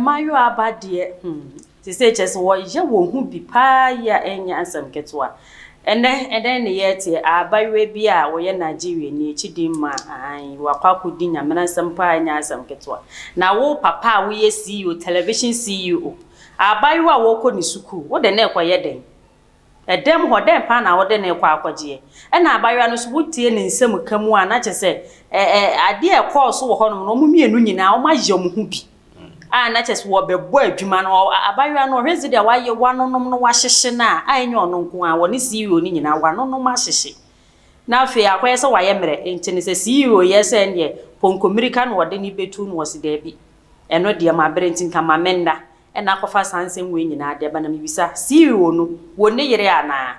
mmaayewa ba deɛ hmm te sɛ kyɛ sɛ wɔyɛ wɔn ho bi paa yi a ɛnyɛ asɛm ketewa Ɛnnɛ, ɛdɛn ne yɛreteɛ? Abayewa bi a ɔyɛ Nigeriani, akyidi mma ahan yi, wakɔ akɔdi Nyamenasɛm paa a ɛnyɛ asɛm ketewa. Na wo, papa a woyɛ CEO, television CEO, abayewa a ɔrekɔ ne sukuu, wode no rekɔyɛ dɛn? Ɛdɛm hɔ, dɛn paa na wode no rekɔ akɔgyeɛ? Ɛna abayewa no nso, wotie ne nsɛmka mu a, na kyerɛ sɛ, ɛ, ɛ, adeɛ a ɛkɔɔ so wɔ hɔnom no, wɔn mmienu nyinaa, wɔayɛ wɔn ho bi. a na kyerɛ sɛ wɔbɛbɔ adwuma no, abayewa no, ɔhwɛ sɛdeɛ wayɛ, wanonom no, wahyehye no a, a ɛnyɛ ɔno nko ara, ɔne CEO no nyinaa, wanonom ahyehye. Na afei akɔyɛ sɛ wayɛ mmerɛ, nti no sɛ CEO yɛ sɛ ɛnneɛ pɔnkɔmirika na ɔde no bɛtu no, ɔse daabi, ɛno deɛ mabrɛ nti nka ma menna, ɛna akɔfa saa nsɛm wei nyinaa de ba, na mebisa, CEO no, wɔ ne yere anaa?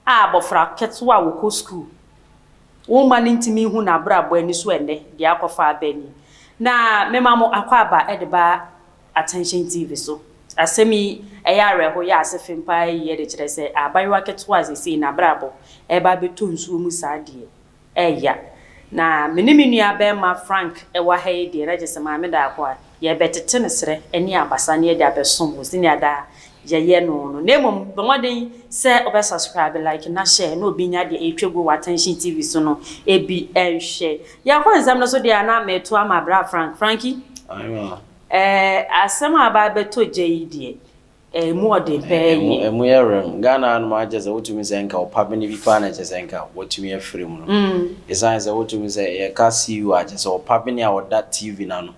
A Abofra ketewa a ɔkɔ sukuu. Wo mma no ntumi nhu n'abrabɔ ani so ɛnnɛ, deɛ akɔfa aba ni. Na mema mo akwaaba de ba Attention TV so. Asɛm yi, ɛyɛ awerɛhow, ɛyɛ asefem paa yiye de kyerɛ sɛ abayewa ketewa a seesei n'abrabɔ reba abɛtɔ nsuo mu saa deɛ, Ɛya. Na me ne me nua bɛɛma Frank wɔ ha yi deɛ na gye sɛ Maame Daako a yɛrebɛtete no serɛ ne abasa na yɛde abɛsom wo senea daa yɛyɛ no no. Na mmom bɔ mmɔden sɛ wobɛ subscribe, like na share na obi nya deɛ ɛretwa gu wɔ Attention TV so no bi nhwɛ. Yɛkɔ nsɛm no so deɛ a na mereto ama bra Frank. Frankie, Aye ma. ɛɛ asɛm a aba abɛtɔ gya yi deɛ Ɛmu ɔden paa yie. Ɛmu yɛ rem. Ghana hanom ara kyerɛ sɛ wotumi sɛ nka ɔpa bene bi paa na kyerɛ sɛ nka watumi afiri mu no. Ɛsiane sɛ wotumi sɛ yɛka CU a kyerɛ sɛ ɔpa bene a ɔda TV no ano.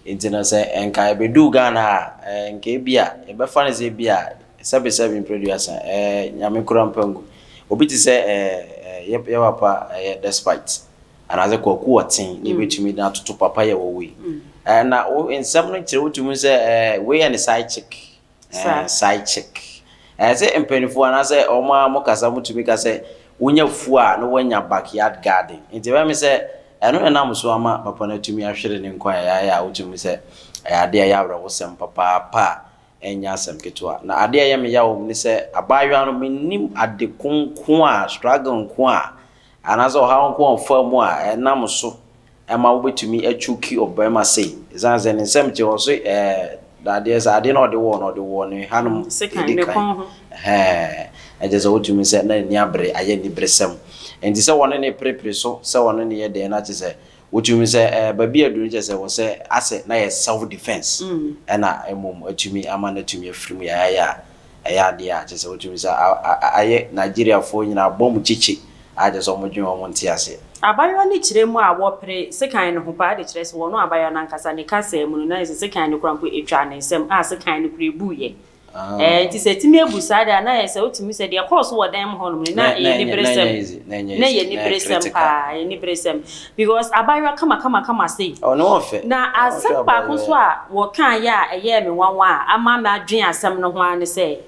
Nti no sɛ nka ɛbɛduu Ghana ha a, nka ebia yɛbɛfa no sɛ ebia sɛbe sɛbe mprɛduasa, Nyame kura mpangu. Obi te sɛ yɛ papa Despite. Anaasɛ kwaku ɔtee na ebetumi de atoto papa yɛ wɔwɔ yi. Ɛɛ na wo nsɛm no kyerɛ wotu mu sɛ ɛɛ wei yɛ ne side chick. Ɛɛ side chick. Ɛɛ sɛ mpanyinfoɔ anaasɛ wɔn a wɔkasa mu tumi ka sɛ wonya fuo a na woanya backyard garden. Nti ɛbɛyɛ me sɛ ɛno na ɛnam so ama papa no atumi ahwere ne nkwa a ɛyɛ a wotu mu sɛ ɛyɛ adeɛ a ɛyɛ awerɛhosɛm papaapa a ɛnyɛ asɛm ketewa. Na adeɛ a ɛyɛ me yaw wɔ mu ne sɛ abaayewa no mennim ade ko nko a struggle nko a Anaasɛ ɔhaw nko a ɔfaa mu a ɛnam so ma wobetumi akyuki ɔbarima sei, esiane sɛ ne nsɛm te hɔ so ɛɛ dadeɛ sɛ adeɛ na ɔde wɔɔ no, ɔde wɔɔ no ɛhanom edi kan. Ɛhɛɛ, kyerɛ sɛ wotumi sɛ na n'ani abere, ayɛ aniberesɛm. Enti sɛ wɔne no reperepere so, sɛ wɔne no yɛ dɛn na kyerɛ sɛ Wotumi sɛ ɛɛ baabi aduru kyɛ sɛ wɔ sɛ asɛ na yɛ self defense ɛna mmom atumi ama no atumi afiri mu yayayɛ a ɛyɛ adeɛ a kyɛ sɛ wotumi sɛ ayɛ Nigeriafoɔ nyinaa abɔ mu kyekye a kyɛ sɛ wɔn dwene wɔn nte aseɛ. Abayewa no kyerɛ mu a wɔpere sekan no ho paa de kyerɛ sɛ ɔno abayewa no ankasa ne kasaa mu no na ayɛ sɛ sekan no koraa mpo twaa ne nsam a sekan no koraa ebuuiɛ. Ɛɛ, nti sɛ atumi abu saa de a, na ayɛ sɛ wotumi sɛ deɛ ɛkɔɔ so wɔ dan mu hɔnom no, na ɛyɛ aniberesɛm. Na ɛyɛ aniberesɛm paa, ɛyɛ aniberesɛm. Because abaayewa kamakamakama sei. Na asɛm baako nso a wɔkaeɛ a ɛyɛɛ me nwanwa a ama madwene asɛm no ho ara ne sɛ,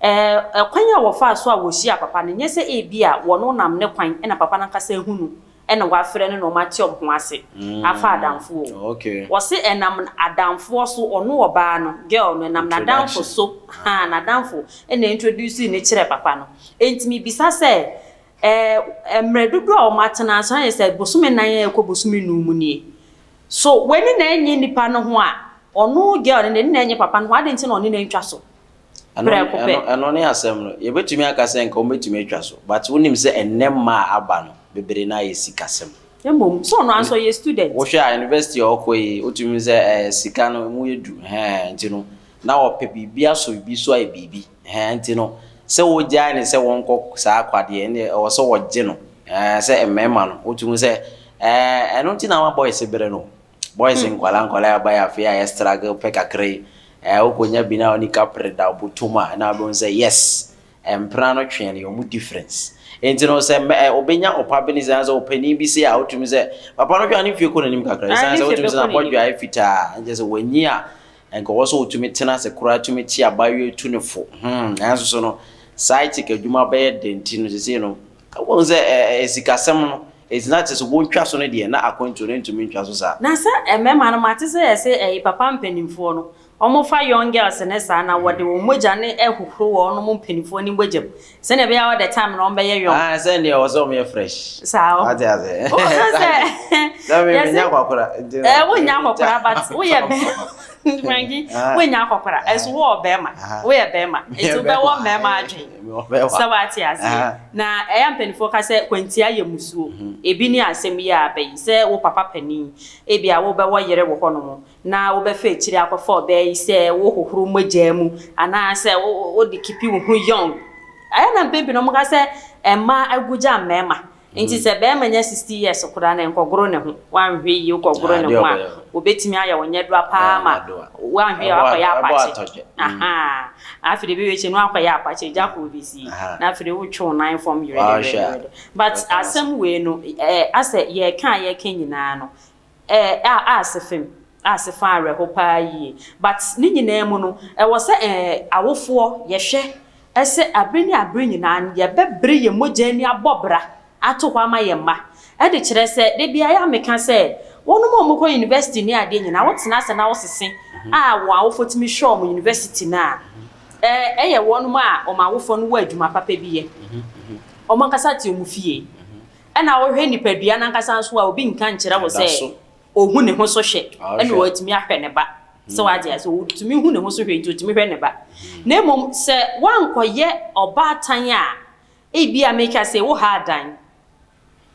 ɛɛ, kwan a wɔfaa so a wɔhyiaa papa no, nyɛ sɛ ebia wɔn nam ne kwan na papa no ankasa ahu no na wɔafrɛ no na wɔate wɔn ho ase afa adamfo o. Wɔse ɛnam adamfoɔ so, ɔno ɔbaa no, girl no, ɛnam n'adamfo so, haa, n'adamfo na introducee no kyerɛɛ papa no. Enti mebisa sɛ, ɛɛ, mmerɛ dodoɔ a wɔatena ase no, ayɛ sɛ bosome nan a ɛrekɔ bosome nnum mu nie. So w'ani na ɛnnye nipa no ho a, ɔno girl no, n'ani na ɛnnye papa no ho a, adɛn nti na ɔne no antwa so? prɛko pɛ. Ɛno ne asɛm no. Yɛbɛtumi aka sɛ nka wɔbɛtumi atwa so, but wonim sɛ ɛnnɛ mma a aba no, bebree no ara yɛ sikasɛm. Mmom, sɛ ɔno ara nso ɔyɛ student. Wohwɛ a university a ɔkɔ yi, wotumi hu sɛ ɛɛ sika no ɛmu yɛ duru, ɛhɛɛ, nti no, na ɔpɛ biribi asɔ biribi so ayɛ biribi, ɛhɛɛ, nti no, sɛ wogyae no sɛ wɔnkɔ saa akwadeɛ, ɛnneɛ ɛwɔ sɛ wɔgye no, ɛɛ, sɛ mmarima no, wotumi hu sɛ ɛɛ ɛno nti na ama boys brɛ no o. Boys nkwadaa nkwadaa aba yɛ afei a yɛ struggle pɛ kakra yi ɛɛ wokɔnya bi na ɔne kapre da ɔbɔtom a ɛna abɛhu sɛ yes mpena no twɛn yɛ ɔmo difference nti no sɛ mɛ ɛ ɔbɛnya ɔpa bi ne sɛ sɛ ɔpanin bi se a wotumi sɛ papa no hwɛ ne fie kɔ n'anim kakra ɛsan sɛ wotumi sɛ na bɔdwa ayɛ fitaa nkyɛ sɛ wɔnyi a nkɔwɔ so wotumi tena ase koraa tumi te abayewa tu ne fo hmm nanso so no side chick adwuma bɛyɛ dɛn ti no sisi no. Woahu sɛ sikasɛm no, enti na kyerɛ sɛ wontwa so no deɛ, na akwantuo no ntumi ntwa so saa. Na sɛ mmarima no, mate sɛ yɛse ɛye papa mpaninfoɔ no, wɔn fa young girls no saa, na wɔde wɔn mogya no hohoro wɔn mo mpaninfoɔ no mogya mu, sɛdeɛ ɛbɛyɛ a all the time no wɔn bɛyɛ young. Aane, sɛ nneɛ wɔse wɔn yɛ fresh. Saa o. Wate aseɛ. Wohu sɛ, yɛse. Sɛ me, me nnya akɔkora, nti no. Ɛɛ, wonnya akɔkora, but woyɛ bɛ. Frankie, woanya akɔkora, nso wo wɔ bɛrima, woyɛ bɛrima, nti wobɛwɔ mmarima adwen. Sɛ wate aseɛ? Na ɛyɛ a mpaninfoɔ ka sɛ kwantia yɛ musuo. Ebi ne asɛm yi a aba yi, sɛ wo papa panin, ebia wobɛwɔ yere wɔ hɔnom, na wobɛfa akyire akɔfa ɔbaa yi sɛ wohohoro mogyaa mu, anaa sɛ wo wo de keepi wo ho young. Ɛyɛ na mpɛn pii no wɔka sɛ mmaa agu gya mmarima, Enti sɛ barima nya sixty years koraa na nkɔgoro ne ho, wanhwɛ yie wokɔgoro ne ho a, wɔbɛtumi ayɛ wo nyɛdoa pa ara ma wanhwɛ yie a wakɔyɛ apakye. Afei deɛ ɛbɛwie no wakɔyɛ apakye, egya koro bi si na afei deɛ wotwe wo nan fam yerɛdɛrɛdɛrɛdɛ. But asɛm wei no, asɛ yɛreka a yɛreka nyinaa no, Eh, ah, ah, sefem, ah, sefa awerɛho paa yie. But ne nyinaa mu no, ɛwɔ sɛ eh, awofoɔ, yɛhwɛ sɛ abere ne abere nyinaa no yɛbɛbre yɛn mogya ani abɔ bra ato hɔ ama yɛn mma. Ɛde kyerɛ sɛ, da biara yɛ a meka sɛ, wɔnom a wɔkɔ university ne adeɛ nyinaa, wotena ase na wosese a wɔn awofoɔ tumi hwɛ wɔn university no a, eh, ɛyɛ wɔnom a wɔn awofoɔ no wɔ adwuma papa bi yɛ. Wɔn ankasa te wɔn fie. Ɛna wohwɛ nipadua no ankasa nso a, obi nka nkyerɛ wo sɛ ohu ne ho so hwɛ ɛna watumi ahwɛ ne ba. Sɛ wate aseɛ, otumi hu ne ho so hwɛ nti otumi hwɛ ne ba. Na mmom sɛ woankɔyɛ ɔbaatan a, ebi a meka sɛ wohaa dan.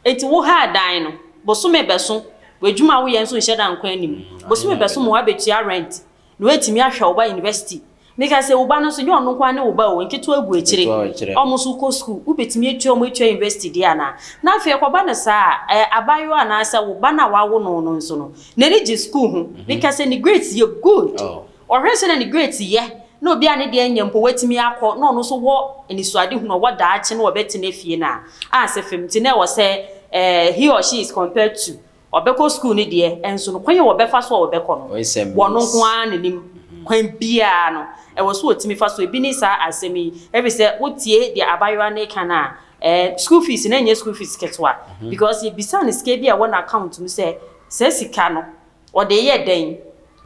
Enti wohaa dan no, bosome bɛso, w'adwuma a woyɛ nso nhyɛ da nkɔ anim. Bosome bɛso ma woabɛtua rent, na woatumi ahwɛ wo ba university Meka sɛ, wo ba no nso, nyɛ ɔno nko ara ne wo ba o, nketewa gu akyire, wɔn nso kɔ sukuu, wobɛtumi atua wɔn atua university deɛ anaa? Na afei ɛkɔba no saa a, abaayewa anaasɛ wo ba no a woawo no no nso no, n'ani gye sukuu ho. Meka sɛ, ne grades yɛ good. Ɔhwɛ sɛdeɛ ne grades yɛ, na obi a ne deɛ nyɛ mpo, watumi akɔ, na ɔno nso wɔ anisoadehunu, ɔwɔ daakye na ɔbɛtena fie no a, anse fam nti na ɛwɔ sɛ he or she is compared to Wɔbɛkɔ sukuu no deɛ, nso no, kwan a wɔbɛfa so a wɔbɛkɔ no, wɔn nko ara na ɛnim. Kwan biara no, ɛwɔ sɛ wɔtumi fa so. Ɛbi ne saa asɛm yi, ɛfiri sɛ wotie deɛ abaayewa no reka no a, ɛɛ, sukuu fees no nyɛ sukuu fees ketewa. Because yɛbisaa no sika bi a ɛwɔ n'account mu sɛ, saa sika no, ɔde reyɛ dɛn?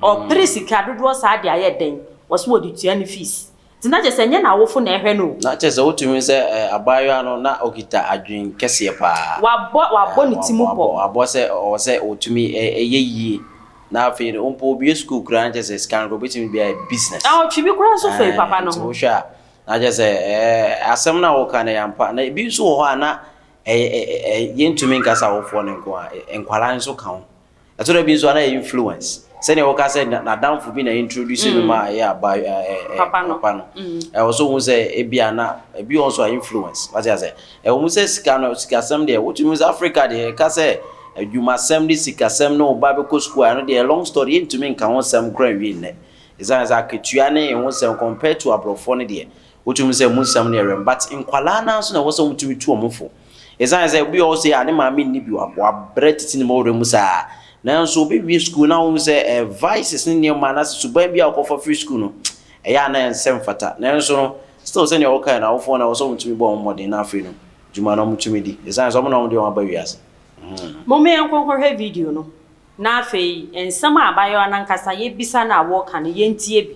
Ɔpere sika dodoɔ saa de ayɛ dɛn? Ɔse ɔde tua ne fees. Nti na kyerɛ sɛ ɛnyɛ n'awofo na ɛhwɛ no o. Na kyerɛ sɛ wotumi hu sɛ abaayewa no na okita adwene kɛseɛ paa. Wabɔ wabɔ ne ti mu pɔ. Wabɔ wabɔ sɛ ɔwɔ sɛ ɔtumi yɛ yie. Na afei no mpo obue sukuu koraa na kyerɛ sɛ sika no koraa obetumi de ayɛ business. Na ɔtwe bi koraa nso firi papa no ho. Nti wohwɛ a na kyerɛ sɛ asɛm no a woka no ɛyɛ ampa. Na ebi nso wɔ hɔ a na yɛntumi nka sɛ awofoɔ no nko ara, nkwadaa nso ka ho. Ɛtɔ da bi nso a na ɛyɛ influence. Sɛnea wɔka sɛ n'adamfo bi na introduce no ma ɛyɛ aba papa no. Ɛwɔ sɛ ohu sɛ ebia na ebi wɔ hɔ nso a influence. Wate ase? Ɛwɔ mu sɛ sika no, sikasɛm deɛ, wotumi hu sɛ Africa deɛ, yɛka sɛ adwumasɛm ne sikasɛm ne wo ba bɛkɔ sukuu a, ɛno deɛ ɛyɛ long story, yɛntumi nka ho nsɛm koraa nwie nnɛ. Esiane sɛ akatua ne ɛho nsɛm compared to aborɔfoɔ no deɛ, wotumi hu sɛ ɛmu nsɛm no yɛ rem. But nkwadaa no ara nso na ɛwɔ sɛ wɔtumi tu wɔn fo. Esiane sɛ obi wɔ hɔ sei a ne maame nni bi, wabrɛ tete ne mmɔwerɛ mu saa. Nanso obewie sukuu na wohu sɛ eh, vices ne nneɛma anaasɛ suban bi a ɔkɔfa firi sukuu no, ɛyɛ a na ɛnsɛ mfata. Nanso no, still sɛnea wokae no, awofoɔ no ɛwɔ sɛ wɔtumi bɔ wɔn mmɔden na afei no, dwuma no wɔtumi di. Esiane sɛ wɔn na wɔde wɔn aba wiase. Hmm. Mom yɛnkɔ nkɔhwɛ video no na afei nsɛm a abaayewa no ankasa yɛbisa no a wɔka no yɛntie bi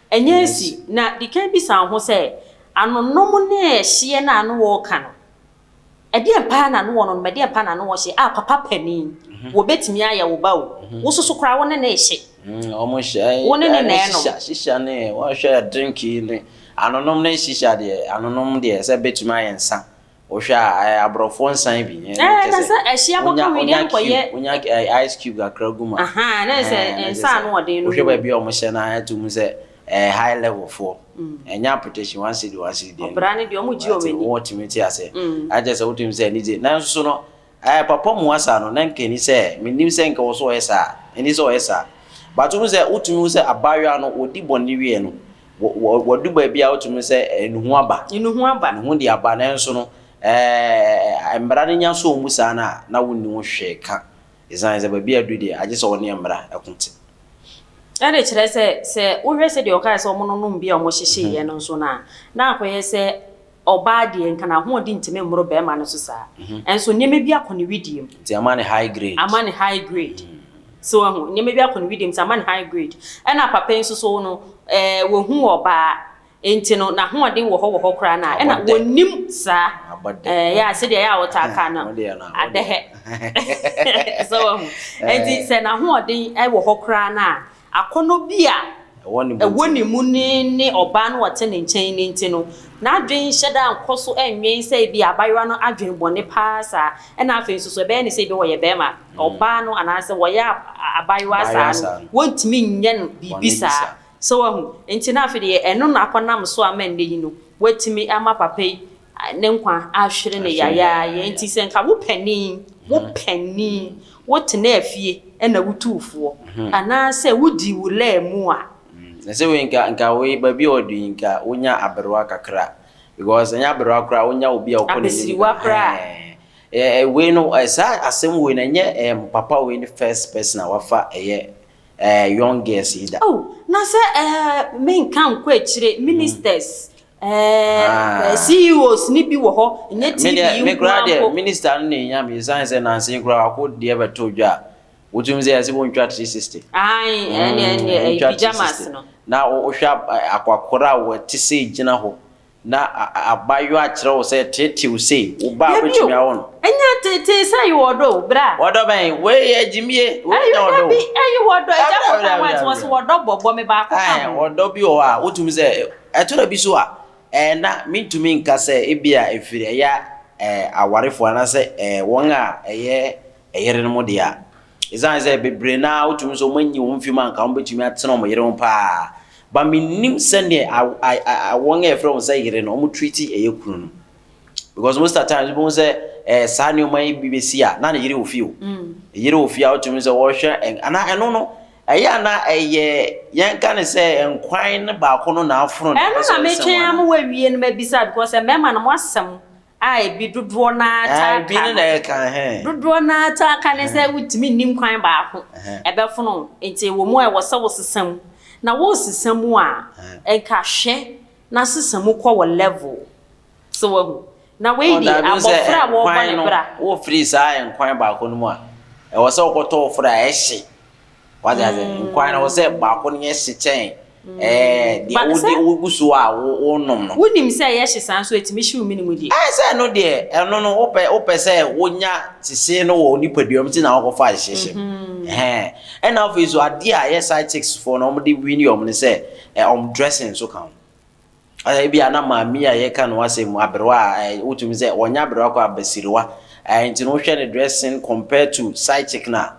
Ɛnyɛ asi, na di kan bisa wo ho sɛ, 'Anonom ne hyeɛ no a na wɔreka no, ɛdeɛn paa na na wɔnonom, ɛdeɛn paa na na wɔhye? A Papa panin, wɔbɛtumi ayɛ wo ba o. Wo nso so koraa wo ne no rehye. Wo ne no na ɛrenom. Shisha, shisha ne, wɔhwɛ drink yi ne, anonom ne shisha deɛ, anonom deɛ sɛ bɛtumi ayɛ nsa. Wohwɛ a ayɛ abrɔfoɔ nsan bi. Ɛɛ na sɛ ɛhye abɔka wei deɛ nkɔyɛ. Wonya ice cube kakra gu mu a. Ahaa na sɛ nsa ano ɔden no. Wohwɛ baabi a wɔn hyɛ no a ɛto mu sɛ ɛyɛ high level foɔ. Ɛnyɛ appreciation one cedi one cedi deɛ no. Ɔbra no deɛ wɔn gye wɔn ani. Wotumi te aseɛ. Akyɛ sɛ wotumi sɛ anigye nanso no Ɛɛ papa Muasa no na nka ɛni sɛ mennim sɛ nka ɔsɛ ɔyɛ saa ɛni sɛ ɔyɛ saa but wohu sɛ wotumi hu sɛ abaayewa no wɔdi bɔne wieɛ no wadu baabi a wotumi hu sɛ nuhu aba nuhu aba nuhu de aba nanso no ɛɛ mmara no nya sɔɔ mu saa no a na wonni ho hwee ka ɛsiane sɛ baabi a adu deɛ agye sɛ wɔne mmara ɛko te. Ɛde kyerɛ sɛ sɛ wohwɛ sɛdeɛ ɔkae sɛ wɔnonom bi a wɔhyehyeeɛ no nso no a na akɔyɛ sɛ Ɔbaa deɛ, nka n'ahoɔden ntumi mmoro barima no so saa. Nso nneɛma bi akɔ ne wedeɛ mu. Nti ama no high grade. Ama no high grade. So wahu? Nneɛma bi akɔ ne wedeɛ mu nti ama no high grade. Ɛna papa yi nso so no, ɛɛ wahu ɔbaa. Nti no, n'ahoɔden wɔ hɔ wɔ hɔ koraa no a, ɛna ɔnnim saa. Abɔ dɛ. Ɛɛ ya, sɛdeɛ ɛyɛ a wɔtaa ka no, adɛhɛ. So wahu? Nti sɛ n'ahoɔden wɔ hɔ koraa no a, Akɔnnɔ bi a ɛwɔ ne mu ne ne ɔbaa no a ɔte ne nkyɛn no nti no, n'adwene nhyɛ da nkɔ so nnwen sɛ ebia abayewa no adwene bɔne paa saa. Ɛnna afei nso, so ɛbɛyɛ ne sɛ ebia ɔyɛ barima a, ɔbaa no anaasɛ wɔyɛ abayewa saa no, wɔntumi nyɛ no biribi saa. So woahu? Enti na afei deɛ ɛno na akɔnam so ama nnɛ yi no, wɔatumi ama papa yi Ne nkwa ahwere no yayaaya nti sɛ nka wo panin, wo panin, wotenaa fie na wotuu foɔ anaasɛ wodii wo laa mu a. Na sɛ wei nka nka wei baabi a ɔdu yi nka wonya aberewa kakra because ɛnyɛ aberewa koraa wonya obi a ɔkɔ n'anim Abasiriwa koraa. ɛɛ ɛɛ wei no ɛɛ saa asɛm wei no ɛnyɛ ɛɛ papa wei ne first person a wafa ɛyɛ ɛɛ young girls yi da. Oh na sɛ ɛɛ menka nkɔ akyire ministers Ɛɛ CEOs no bi wɔ hɔ, ɛnyɛ TV nkoa mpo. Medeɛ, me koraa deɛ, minister no na ɛnya me, ɛsiane sɛ nansa yi koraa ɔko deɛ bɛto dwa a, wotum sɛ yɛse wontwa 360. Aane, ɛne, ɛne, ɛyi pyjamas no. Na wohwɛ akwakora a ɔte sei gyina hɔ, na abaayewa kyerɛ wo sɛ teetee wo sei, wo ba a wobɛtumi awo no. Dabi o, ɛnyɛ teetee sɛ ɛyɛ ɔdɔ o, bra. Ɔdɔ bɛn? Wei yɛ gyimie, wei nyɛ ɔdɔ o. Dabi, ɛyɛ ɔdɔ, agya Botaoa nso ɔse ɔdɔ bɔbɔ, me baako ka ho. Ɔdɔ bi wɔ hɔ a, wotum sɛ Ɛtɔ da bi nso a, na mintumi nka sɛ ebia ɛfiri ɛyɛ awarefo anaasɛ wɔn a ɛyɛ yerenom dea. Esiane sɛ bebree no ara wotumi sɛ wɔanyi wɔn mfi mu a anka wɔbetumi atena wɔn yere ho paa. But minnim sɛnea wɔn a yɛfrɛ wɔn sɛ yere no wɔn treat ɛyɛ kunu no. Because most of times wobɛhu sɛ saa nneɛma yi bi besi a na ne yere wɔ fie o. Yere wɔ fie a wotumi sɛ wɔhwɛ anaa ɛno no Ɛyɛ a na ɛyɛ yɛn ka no sɛ nkwan no baako no na afono nea ɔpɛ sɛ ɔnsɛm anaa? Ɛno na metwɛn ama wɔawie no mabisa because mmarima no mo asɛm a ebi dodoɔ no ara taa ka no. Ebi no na ɛka ɛhɛn. Dodoɔ no ara taa ka ne sɛ wotumi nni nkwan baako ɛbɛfono nti ɛwɔ mu a ɛwɔ sɛ wosesa mu na woresesa mu a nka hwɛ na sesa mu kɔ wɔ level. So wahu? Na wei Ɔn, de, dabi, sɛ abɔfra a wɔrebɔ ɛnkwan ne no, bra. wofiri saa ɛnkwan baako no mu a, ɛwɔ sɛ wokɔtɔ ofiri a ɛhye. Wate aseɛ? Nkwan no, ɛwɔ sɛ baako no yɛ hye kyɛn ɛɛ deɛ Ba- wode sɛ- wogu so a wo wonom no. Wonim sɛ ɛyɛ hye saa nso ɛtumi hyew mene mu deɛ. Ɛɛ sɛ ɛno deɛ, ɛno no wopɛ wopɛ sɛ wonya sesee no wɔ wo nipadua mu nti na wokɔfa hye hyem. Ɛhɛn. Ɛna afei nso adeɛ a ɛyɛ side chicks foɔ no wɔde wini wɔn no sɛ ɛ wɔn dressing nso ka ho. Ɛ ebia na maame a yɛka ne ho asɛm mu, aberewa a ɛ wotumi sɛ ɔnyɛ aberewa koraa, abasiriwa. Ɛ nti no wohwɛ ne dressing compared to side chick no a,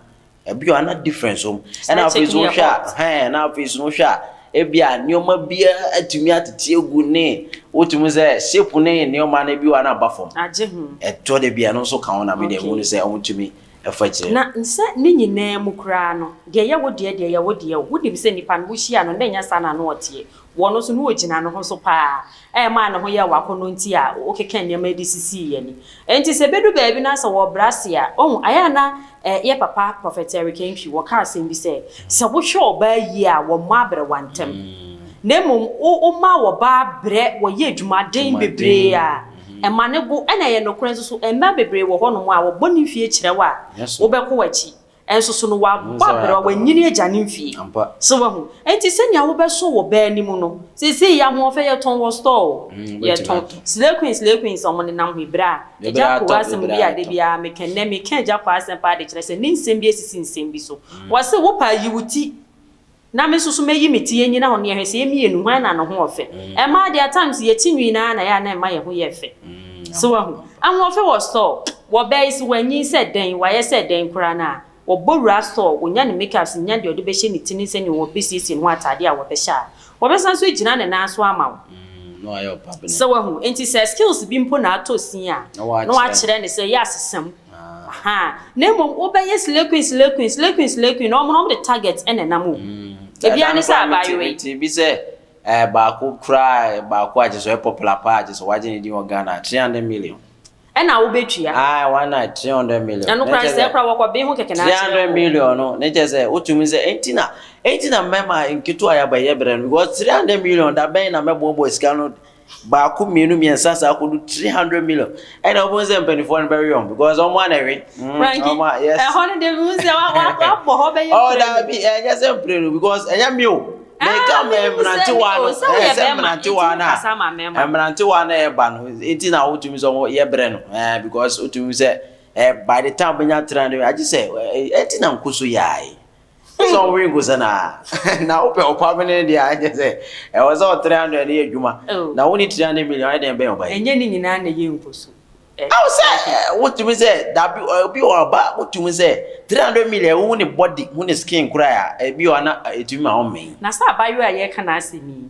ebi wɔ hɔ a na difference wom. Side Ɛna afei chick nso no yɛ wohwɛ a, hot. hɛn, na afei nso wohwɛ a, ebia nneɛma biara atumi atete agu ne wotumi sɛ shape ne nneɛma no ebi wɔ hɔ a na aba fam. Agye ho. Ɛtɔ da bi a ɛno nso ka ho na me deɛ Okay. mehu no sɛ wɔtumi fa kyerɛ. Na sɛ ne nyinaa mu koraa no, deɛ ɛyɛ wo deɛ deɛ ɛyɛ wo deɛ o. Wonim sɛ nipa no, wohyia no, na ɛnyɛ saa na ano ɔteɛ. Wɔ no so na ogyina ne ho so paa a ɛmaa ne ho yɛɛ w'akɔnnɔ nti a wokeka nneɛma de sisii yɛn ani. Enti sɛ ebedu baabi na sɛ wɔrebrɛ ase a, ohu, ɛyɛ a na eh, yɛn papa Prophet Eric Antwi, wɔka asɛm bi sɛ, Sɛ wohwɛ ɔbaa yie a, wɔmmɔ aberewa ntɛm, na mmom wo, woma ɔbaa brɛ, wɔyɛ adwumaden bebree a, ɛma no go. Ɛna ɛyɛ nokorɛ nso so, mmaa bebree wɔ hɔnom a, wɔbɔ ne mfie kyerɛ wo a, wobɛkɔ w'akyi. Nso so no, wabɔ aberewa, wanyini agya ne mfie. So wahu? Enti sɛnea wobɛso wɔ bɛ anim no, seesei yɛ ahoɔfɛ, yɛtɔn wɔ store o. Yɛtɔn. Slay Queen, Slay Queen sɛ wɔnenam ho yi, bere a Agya Kowɔ asɛm bi a da biara meka, nnɛ meka Agya Kowɔ asɛm paa de kyerɛ sɛ ne nsɛm bi asisi nsɛm bi so. Wɔse, Wo paa, yi wo ti. Na me nso so mɛyi me ti anyina hɔ na yɛhwɛ sɛ yɛn mmienu hwan na ne ho yɛ fɛ. Ɛmmaa deɛ at times yɛn ti nwii no ara na ɛyɛ a na ɛmma yɛn ho yɛ fɛ. So wahu? Ahoɔfɛ wɔ store. Wɔ bɛɛ yi so wanyin sɛ dɛn, wayɛ sɛ dɛn koraa no a, ɔbɔ wura store, ɔnya ne make ups, nya deɛ ɔde bɛhyɛ ne ti ne sɛdeɛ ɔbɛsiesie ne ho ataadeɛ a wɔbɛhyɛ a, ɔbɛsan so agyina ne nan so ama wo. So wahu? Enti sɛ skills bi mpo na atɔ sin a, na woakyerɛ no sɛ yɛ asesa mu. Ahaa na mmom wobɛyɛ slay queen slay queen slay queen slay queen na wɔn no wɔn de target na ɛnam o ebiaa ne sɛ abaayewa yi. Ɛda no koraa metee bi sɛ ɛɛ baako koraa ɛɛ baako a kyerɛ sɛ ɔyɛ popular paa a kyerɛ sɛ wagye ne din wɔ Ghana a three hundred million. Ɛna wobɛtua. Ae one night three hundred million. Ɛno koraa sɛɛ koraa wɔkɔ bee ho kɛkɛ na akyerɛ o. Three hundred million no ne kyerɛ sɛ wotumi sɛ enti na enti na mmarima nketewa a yɛabɔ ɛyɛ brɛ no because three hundred million da bɛn na mɛboaboa sika no Baako mmienu mmiɛnsa saa kɔdu three hundred million ɛna wɔn sɛ mpanimfoɔ no bɛwe wɔn because wɔn ana ɛwe. franki ɛhɔ no de mu sɛ wabɔ hɔ bɛyɛ mpire. ɔ daabi ɛnyɛ sɛ mpire no because ɛnyɛ mi o. mɛka mmerantewa no ɛsɛ mmerantewa no a mmerantewa no ɛba no eti na wotumi sɛ wɔn yɛ brɛ no ɛɛ because wotumi sɛ ɛɛ by the time bɛnya three hundred agye sɛ ɛɛ ɛti na nkoso yaae. Sɛ ɔmo wi nkosa na na wopɛ ɔpa bi ne deɛ a ɛnyɛ sɛ ɛwɔ sɛ ɔtiri hundred ne yɛ adwuma oh. na wo ne tiri hundred million ayɛ dɛn bɛn ɔba yi. Ɛnyɛ ne nyinaa na ɛyɛ nkoso. Awo sɛ wotumi sɛ dabi obi wɔ ɔba wotumi sɛ three hundred million wohu ne body hu ne skin koraa a ebi wɔ ana etumi ma ɔmmɛn. Na sɛ abayewa a yɛka n'asɛm yi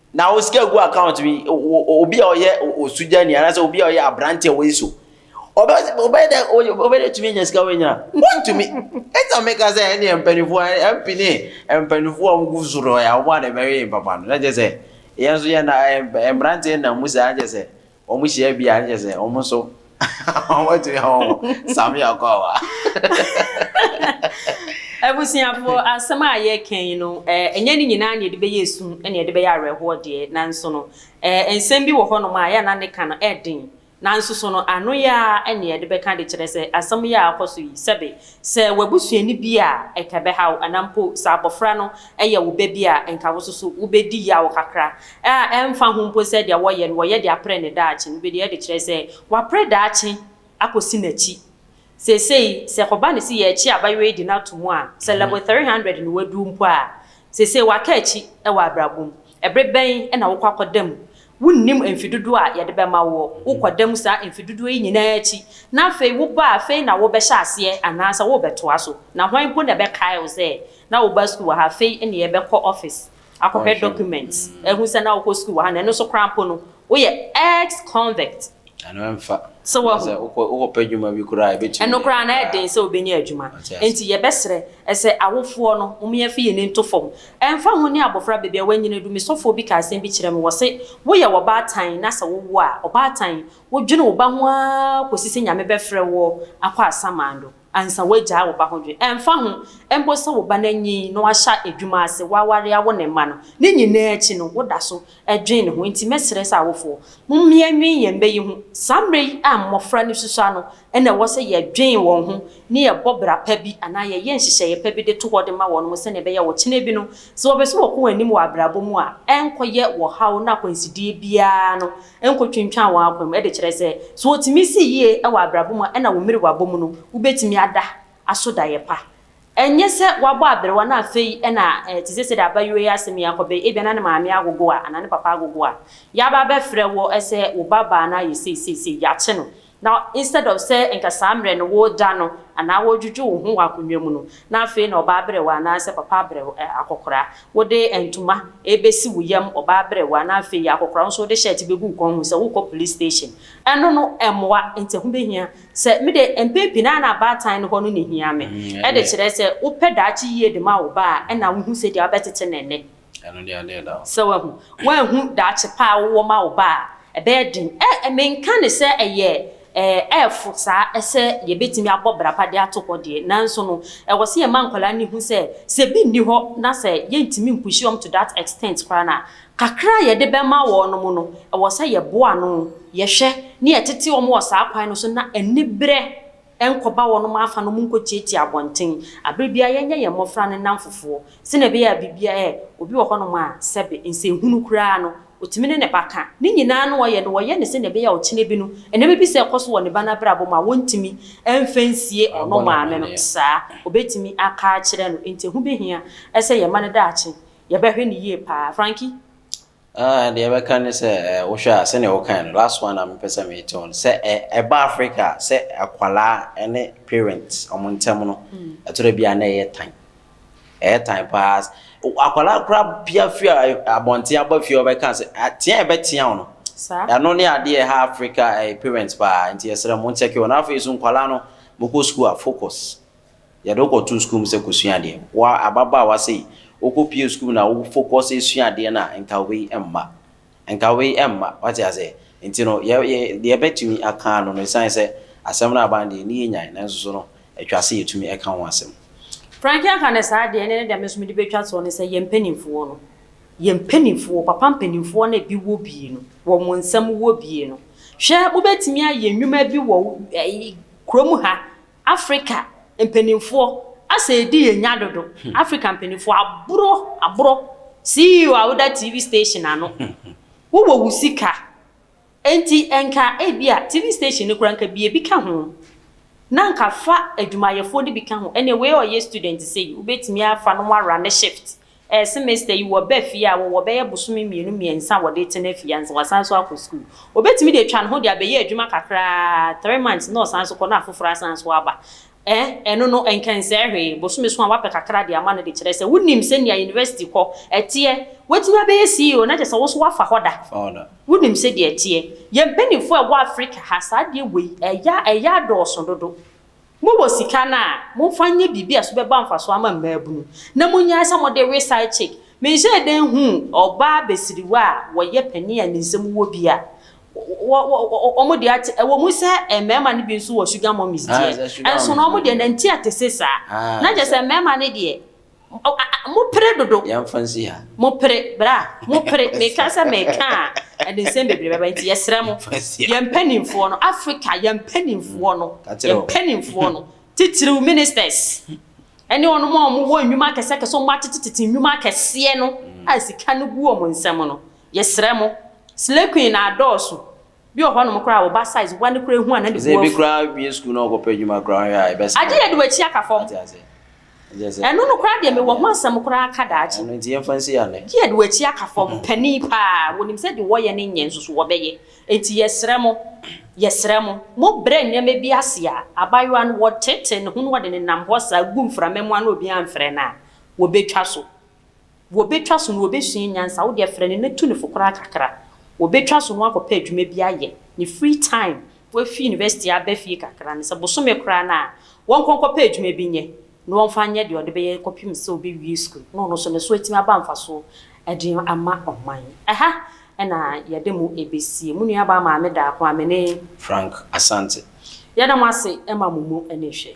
Na wo sika gu account bi obi a ɔyɛ osugyani anaasɛ obi a ɔyɛ aberante a wɔyi so ɔbɛyɛ dɛ ɔbɛyɛ dɛ otumi anya sika wɔnyina wɔntumi ɛna meka sɛ ɛne mpanimfoɔ MP ne mpanimfoɔ a wɔgu so no yɛ wɔn a na ɛbɛyɛ papa no na kyerɛ sɛ yɛn nso yɛn na mmeranteɛ nam mu saa kyerɛ sɛ wɔn hyia bi a, nkyɛ sɛ wɔn nso wɔbɛtumi ahɔ wɔn same akwawa. Abusuafo, asɛm a yɛreka yi no, ɛnyɛ ne nyinaa na yɛde bɛyɛ esu na yɛde bɛyɛ awerɛhoɔ deɛ, nanso no, nsɛm bi wɔ hɔnom a yɛ a na ne ka no yɛ den, nanso so no, ano yɛ ara na yɛde bɛka de kyerɛ sɛ asɛm yɛ a akɔ so yi, sɛbe Sɛ w'abusuani bi a anka ɛbɛha wo anaa mpo sɛ abofra no yɛ wo ba bi a, anka wo nso so wubedi yaw kakra. A Ɛmfa ho mpo sɛ deɛ wɔyɛ no wɔyɛ de apere ne daakye no, wobedi adi kyerɛ sɛ wɔapere daakye akosi n'akyi. Seesei, sɛ ɛkɔba no sɛ yɛrekye abayewa yi de no ato mu a, sɛ level three hundred na waduru mpo a, seesei waka akyi wɔ abrabɔ mu. Bere bɛn na wokɔ akɔda mu Wunnim mfe dodoɔ a Yɛde bɛma woɔ. Wokɔ da mu saa mfe dodoɔ yi nyinaa akyi, na afei woba a, afei na worebɛhyɛ aseɛ anaasɛ worebɛtoa so? Na hwan mpo na ɛbɛkae wo sɛ na wobaa sukuu wɔ ha? Afei nneɛ bɛkɔ office akɔhwɛ documents ahu sɛ na wokɔ sukuu wɔ ha, na ɛno nso koraa mpo no woyɛ ex-convict. Ɛno ɛmfa. So wahu? Sɛ wokɔ wokɔpɛ adwuma bi koraa a ebetumi. Ɛno koraa na ɛyɛ den sɛ obenya adwuma. Ɔte ase. Enti yɛbɛsrɛ sɛ awofoɔ no, momyɛmfa yɛn ani nto fam. Ɛmfa ho ne abofra baabi a wanyini du, me sɔfoɔ bi kaa asɛm bi kyerɛɛ me, wɔse, Woyɛ ɔbaatan na sɛ wowo a, ɔbaatan, wodwene wo ba ho ara kɔsi sɛ Nyame bɛfrɛ woɔ akɔ asamando. Ansa woagyaa wo ba ho dwen, ɛmfa ho mpo sɛ wo ba no anyin na wahyɛ adwuma ase, woaware awo ne mma no, ne nyinaa akyi no, woda so dwen ne ho. Enti mɛsrɛ sɛ awofoɔ, mommia nnwen yɛn mma yi ho. Saa mmerɛ yi a mmɔfra no susua no na ɛwɔ sɛ yɛdwen wɔn ho na yɛbɔ bra pa bi anaa yɛyɛ nhyehyɛeɛ pa bi de to hɔ de ma wɔnom sɛdeɛ ɛbɛyɛ a ɔkyena bi no, sɛ wɔpɛ sɛ wɔkɔ wɔn anim wɔ abrabɔ mu a, ɛrenkɔyɛ wɔ haw ne akwansideɛ biara ano Nkotwintwan w'akwan mu de kyerɛ sɛ, sɛ wotumi si yiye wɔ abrabɔ mu a, ɛnna wo mmerewabɔ mu no, wubetumi ada aso daeɛ pa. Ɛnyɛ sɛ woabɔ aberewa na afei na te sɛ sɛdeɛ abayewa yi asɛm yi akɔ bɛyɛ, ebia na ne maame agogo a, anaa ne papa agogo a, yɛaba abɛfrɛ wo sɛ wo babaa no ayɛ sei sei sei, yɛakye no, Na instead of sɛ nka saa mmerɛ no wo da no anaa wo dwudwo wo ho wɔ akonnwa mu no na afei na ɔbaa aberewa anaa sɛ papa aberew eh akɔkora wo de ntoma ɛrebɛsi wo yam ɔbaa aberewa na afei akɔkora wo nso wo de shirt bɛgu wo kɔn mu sɛ wo kɔ police station ɛno no ɛmmoa nti ɛho bɛhia sɛ me deɛ mpɛn pii no ara na abaatan no hɔ no na ɛhia me ɛde kyerɛ sɛ wo pɛ daakye yie de ma wo ba a ɛna wo hu sɛdeɛ wo bɛtete no ɛnnɛ. Ɛno deɛ ɛdeɛ da hɔ. Sɛ wahu, woanhu daakye pa a wowɔ ma wo ba a, ɛbɛyɛ den. Ɛ, menka no sɛ ɛyɛ, ɛ, ɛrefo saa sɛ yɛbɛtumi abɔ bra pa de ato hɔ deɛ, nanso no, ɛwɔ sɛ yɛma nkwadaa no hu sɛ, sɛ bi nni hɔ na sɛ yɛntumi mpushi wɔn to that extent koraa no a, kakra a yɛde bɛma wɔn no, ɛwɔ sɛ yɛboa ano, yɛhwɛ, na yɛtete wɔn wɔ saa kwan no so na aniberɛ. Ɛnkɔba wɔnom afa no monkɔtiatia abɔnten aberɛ biara yɛnyɛ yɛn mmɔfra no nnamfofoɔ sɛdeɛ ɛbɛyɛ a biribiara ɛɛ obi wɔ hɔnom a sɛbe nsɛnhunu koraa no ɔtumi ne ne ba ka ne nyinaa no ɔyɛ no ɔyɛ no sɛdeɛ ɛbɛyɛ a ɔkyena bi no nneɛma bi sɛ ɛkɔ so wɔ ne ba no abrabɔ mu a wɔntumi mfa nsie ɔno maame no saa ɔbɛtumi aka akyerɛ no nti ɛho bɛhia sɛ yɛma no daakye yɛbɛhwɛ no yie paa Frankie Ah deɛ ɛbɛka ne sɛ eh, wohwɛ a sɛnea wokae no last one a mepɛ sɛ mete wo no sɛ eh, ɛba Africa a sɛ akwadaa ne parent wɔn ntam no hmm. ɛtɔrɔ bi a na ɛyɛ tan ɛyɛ tan paa akwadaa kora pia firi eh, abɔnten aba fie ɔbɛka sɛ ah, tea ɛbɛtea wo no ɛno ne adeɛ ɛha Africa eh, parent paa nti ɛsrɛ mo nkyɛke wɔn afei so nkwadaa no mokɔ sukuu a focus Yɛde wo kɔtoo sukuu mu sɛ kɔsua adeɛ. Wo ara, ababaawa sei, wokɔpuee sukuu mu na wo focus resua adeɛ no a, nka wei mma. Nka wei mma. Woate aseɛ? Nti no, yɛ, yɛ, deɛ yɛbɛtumi aka ara no no, ɛsiane sɛ asɛm no aba no deɛ, ɛnni yɛn nyan, nanso so no, ɛtwa sɛ yɛtumi ɛka ho asɛm. Frank aka no saa deɛ, ɛnneɛ ne deɛ me nso mede bɛtwa toɔ ne sɛ, yɛn mpanimfoɔ no, yɛn mpanimfoɔ, papa mpanimfoɔ no a ebi wɔ bie no, wɔ wɔn nsam wɔ bie no, hwɛ, wobɛtumi ayɛ nnwuma bi wɔ, ɛyi, kurom ha, Afrika mpaninfoɔ asɛ ɛdi yɛn nya dodo Afrika mpaninfoɔ aboro aboro CEO a woda TV station ano wo wɔ wo sika ɛnti ɛnka ɛbia TV station no koraa nka bie bi ka ho na nka fa adwumayɛfoɔ no bi ka ho ɛnɛ wei ɔyɛ student sei wobɛtumi afa no mo arane shift Ɛɛ semester yi wɔba fie a wɔwɔ bɛyɛ bosome mmienu mmiɛnsa a wɔde retena fie ansa wɔasan nso akɔ sukuu. Wɔbɛtumi de atwa ne ho de abɛyɛ adwuma kakra ara, three months na ɔsan nso kɔ na afoforɔ asan nso aba. Ɛɛ ɛno no ɛnkɛnsɛe hwee, bosome so a wapɛ kakra de ama no de kyerɛ sɛ wonim sɛnea university kɔ ɛteɛ. Woatumi abɛyɛ CEO na kyerɛ sɛ wo nso woafa hɔ da, wonim sɛdeɛ ɛteɛ. Yɛn mpanimfoɔ a ɛwɔ Africa ha saa adeɛ wei ɛyɛ ɛyɛ adɔɔso dodo. Mowɔ sika no a, momfa nyɛ biribi a so bɛba mfaso ama mmaabunu, na munnyae sɛ mode we side chick. Mehyɛɛ da nhuu ɔbaa basiriwa a wɔyɛ panin a nyinsɛm wɔ bi a wɔn deɛ ate, ɛwɔ mu sɛ mmarima no bi nso wɔ sugar mummies deɛ, nso no wɔn deɛ nanti ate se saa, na kyerɛ sɛ mmarima no deɛ. Oh, ah, ah, mo pere dodo. Yɛmfa nsi ha. Mo pere, bra, mo pere. Meka sɛ meka a, ɛde nsɛm bebree bɛba nti yɛsrɛ mo. Yɛn mpanimfoɔ no, Africa, yɛn mpanimfoɔ no, yɛn mpanimfoɔ no, titiriw ministers, ɛne wɔn a wɔwɔ nnwuma akɛseakɛse, wɔn atetetete nnwuma akɛseɛ no a sika no gu wɔn nsam no, yɛsrɛ mo, slay queen na adɔɔso, Bi wɔ hɔ nom koraa a wo ba size wa no koraa ehu a na ne bo afu. Ebi koraa wie sukuu na ɔkɔ pɛ adwuma koraa hwɛ a ɛbɛsɛe. Agye yɛ de w'akyi aka fam. Wate aseɛ? Ɛnkyerɛ sɛ. Ɛno no koraa deɛ me wɔ ho asɛm koraa ka daakye. Ɛno nti yɛmfa nsi ha nnɛ. Gye yɛ de w'akyi aka fam. Panin paa, wɔnim sɛ deɛ wɔyɛ no nyɛ nso so wɔbɛyɛ. Enti yɛsrɛ mo, yɛsrɛ mo, mo brɛ nneɛma bi ase a, abaayewa no wɔtetee ne ho na wɔde no nam hɔ saa gu mframa mu a na obiara mfrɛ no a, wɔbɛtwa so. Wɔbɛtwa so no wɔbɛsua nyansa, wo deɛ frɛ no na tu no fo koraa kakra. Wɔbɛtwa so no woakɔpɛ adwuma bi ayɛ, ne free time, woafi university aba fie kakra no sɛ bosome koraa no a, ɔnkɔ nkɔpɛ adwuma bi nyɛ na ɔmfa nyɛ deɛ ɔde bɛyɛ kɔpem sɛ ɔbɛwie sukuu na ɔno nso ne so atumi aba mfasoɔ de ama ɔman. Ɛha na yɛde mo bɛsie. Mo nuabaa Maame Daako a me ne. Frank Asante. Yɛda mo ase ma mo mu ani hwɛ.